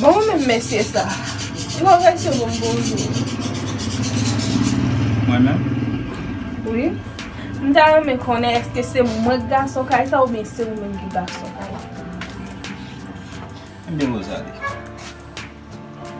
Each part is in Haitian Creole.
Bon mwen menm mesye sa. Tro rèse pou m bonjou. Mwen menm? Wi. M ta renmen konnen eske se mwen ki gason kay sa oubyen se ou menm ki gason kay la. Ebyen Rosalie.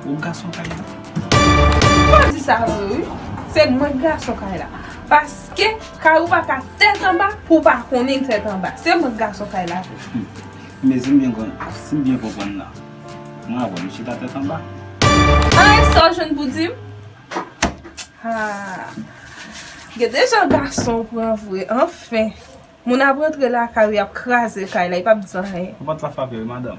Ou gason kay la. Ou pa di sa vre wi. Se mwen ki gason kay la. Paske kay ou pa ka tèt anba pou ou pa konnen tèt anba. Se mwen ki gason kay la vre. Mezi mwen grann ap sim byen konprann la mwen avèw nou chita tèt anba. Anh sa w jwenn pou di m? Haahh gen de jan gason w pran vre anfen moun ap rantre lakay ou yap kraze kay la e pap di anyen. Pòt la frape wi madanm.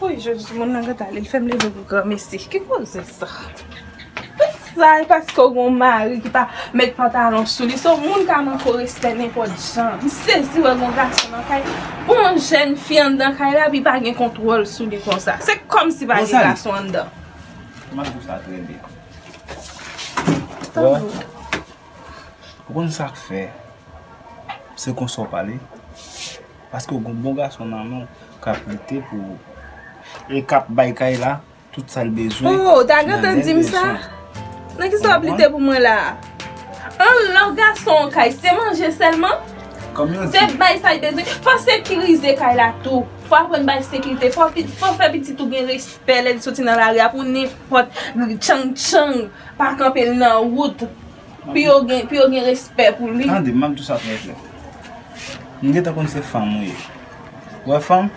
Woy jodi ti moun nan gen talè li fèm leve pou granmesi ki koze sa Sa e paske ou gen yon mari ki pa met pantalon sou li se w moun ka manke w respè nenpòt jan m sezi wè yon gason nan kay pou yon jèn fi anndan kay la epi pa gen kontwòl sou li konsa se kòmsi pa gen gason anndan Ou konn sa k fè se konsa w pale Paske w gon bon gason nan men w kap lite pou ou. E kap bay kay la tout sa l bezwen. Oh ou ta gentan di m sa? Nan kisa wap lite pou mwen la a? An lè w gason yon kay se manje sèlman? Se bay sa li bezwen? Fò sekirize kay la tou. Fò aprann bay sekirite. Fò w fè pitit ou gen respè lè li soti nan lari a pou nenpòt tchang tchang pa kanpe l nan wout. Pou yo gen pou yo gen respè pou li. Tande, map di sa trè klè. M gentan konn se fanm ou ye. Ou wè fanm?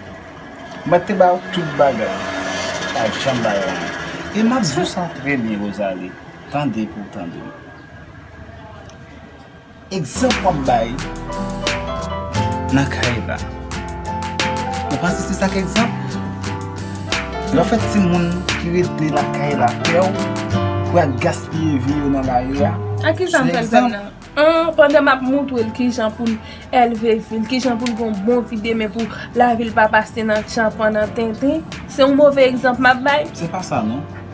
M pa te ba ou tout bagay. Ou pa janm ba yo anyen. E map di ou sa trè byen Rosalie. Tande pou ou tande m. Egzanp wap bay nan kay la. Ou panse se sa k egzanp? Lè w fè timoun ki rete lakay la pè w pou y al gaspiye vi yo nan lari a, se egzanp. Pandan m ap montre l ki jan pou l elve fi l, ki jan pou l gen yon bon vi demen pou lavi l pa pase nan tchanpan, nan tenten, se yon move egzanp m ap bay? Se pa sa non.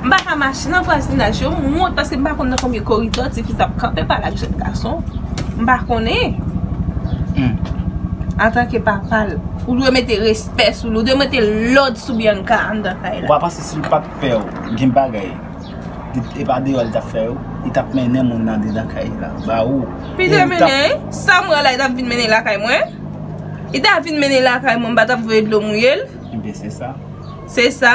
M pa ka mache nan vwazinaj yo, m wont paske m pa konn nan konbyen koridò ti fi sa ap kanpe pale ak jèn gason. M pa konnen. Antanke papa l, ou dwe mete respè sou li, ou dwe mete lòd sou Bianca anndan kay la. Ou pa panse si l pa t pè w, gen bagay, e pa deyò li t ap fè yo, li t ap mennen moun andedan kay la ba ou. Li te mennen? Sa m wè la li t ap vin mennen lakay mwen? Li ta vin mennen lakay mwen m pa t ap voye dlo mouye l? Ebyen se sa. Se sa?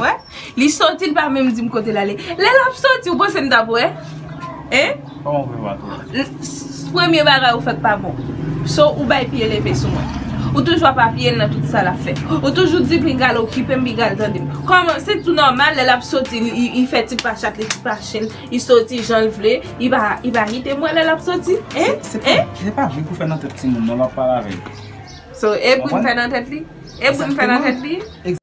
Wè? Li soti li pa menm dim kote lale. Lè lap soti ou panse m tap wè? Hein? Koman pou mwen pa t wè? Premye bagay ou fèk pa bon. So ou bay pye leve sou mwen. Ou toujou ap apiye l nan tout sa lap fè. Ou toujou di pi gal okipe m pi gal tande m. Koman se tou nòmal lè lap soti li fè ti pa chat li ti pa chen l. Li soti jan l vle. Li pa kite m wè lè lap soti. Hein? Hein? Se pa bri pou fè nan tèt timoun non lap pale avè l. So e bri m fè nan tèt li? E bri m fè nan tèt li? Exactement.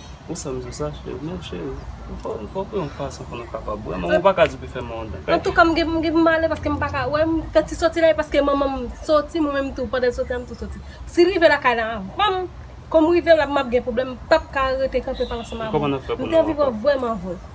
Ou sèm sou sa cheri, men cheri, nou fò pran yon fason pou nou kapab wè manman, ou pa ka di pou l fè manman w dakay. Antouka m gen pou m ale paske m pa ka wè, m fè ti soti la e paske manman m soti mwen menm tou pandan l soti la m tou soti. Si l rive lakay la anvan m, kòm m rive la m ap gen pwoblèm m pap ka rete kanpe pale ansanm avè w. Kòman n ap fè pou nou antre? M te anvi wè w vrèman vre.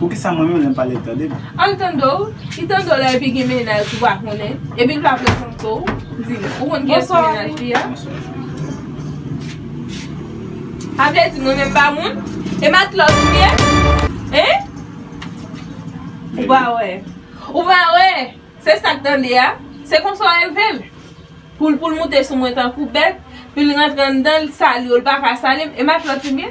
Poukisa mwen menm lèm pale li tande m. An tande w, li tande w lè epi gen mennaj ou pa konnen, epi l pa prezante w, di m, ou konn kiyès ki mennaj li a? Bonswa cheri. A vle di mwen menm m pa moun? E matlòt m ye? Hein? Ou pa wè. Ou pa wè! Se sa k tande a? Se konsa w elve l? Pou l pou l moute sou mwen tankou bèt, pou l rantre anndan l sali w, l pa ka sali m, e matlòt li m ye?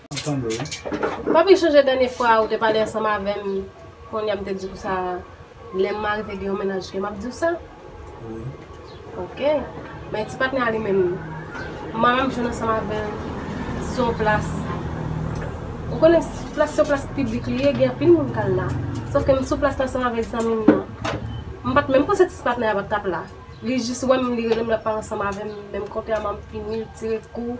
Papi sonje dènye fwa ou te pale ansanm avèm kounye a m te di w sa lè m mare te gen yon mennaj ke m ap di w sa ok men ti patnè a li menm m mare m jwenn ansanm avè l se yon plas ou konnen plas se yon plas piblik li ye gen anpil moun k al la sof ke m sou plas la ansanm avèk zanmi m nan m pat menm panse ti patnè a pa t ap la li jis wè m li rele m l ap pale ansanm avèm men m konte a m ap fini l tire kou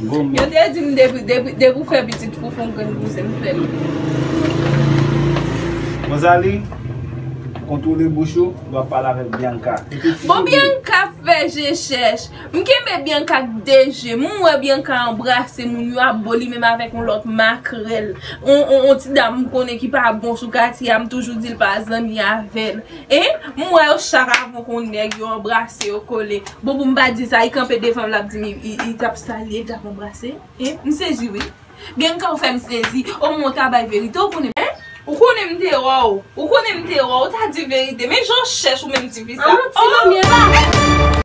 Goumen. Yo te dim depi depi ou fè pitit fou fon grenn bouzen m fèl. Rosalie kontwole bouch ou lè wap pale avèk Bianca. Bon Bianca fè je chèch. M kenbe Bianca ak 2 jem. M wè Bianca anbrase moun yo ap bo li menm avèk yon lòt makrèl. Yon ti dam m konnen ki pa bon sou katye a m toujou dil pa zanmi avèl. Hein m wè yo chak avon kon nèg yo anbrase yo kole bon pou m pa di sa li kanpe devan m lap di m li tap salye l tap anbrase hein m sezi wi gen ka ou fè m sezi o mwen w ta bay verite ou konnen hein ou konnen m te wè w ou konnen m te wè w ou ta di verite men jan w chèch ou menm ti fi sa oh.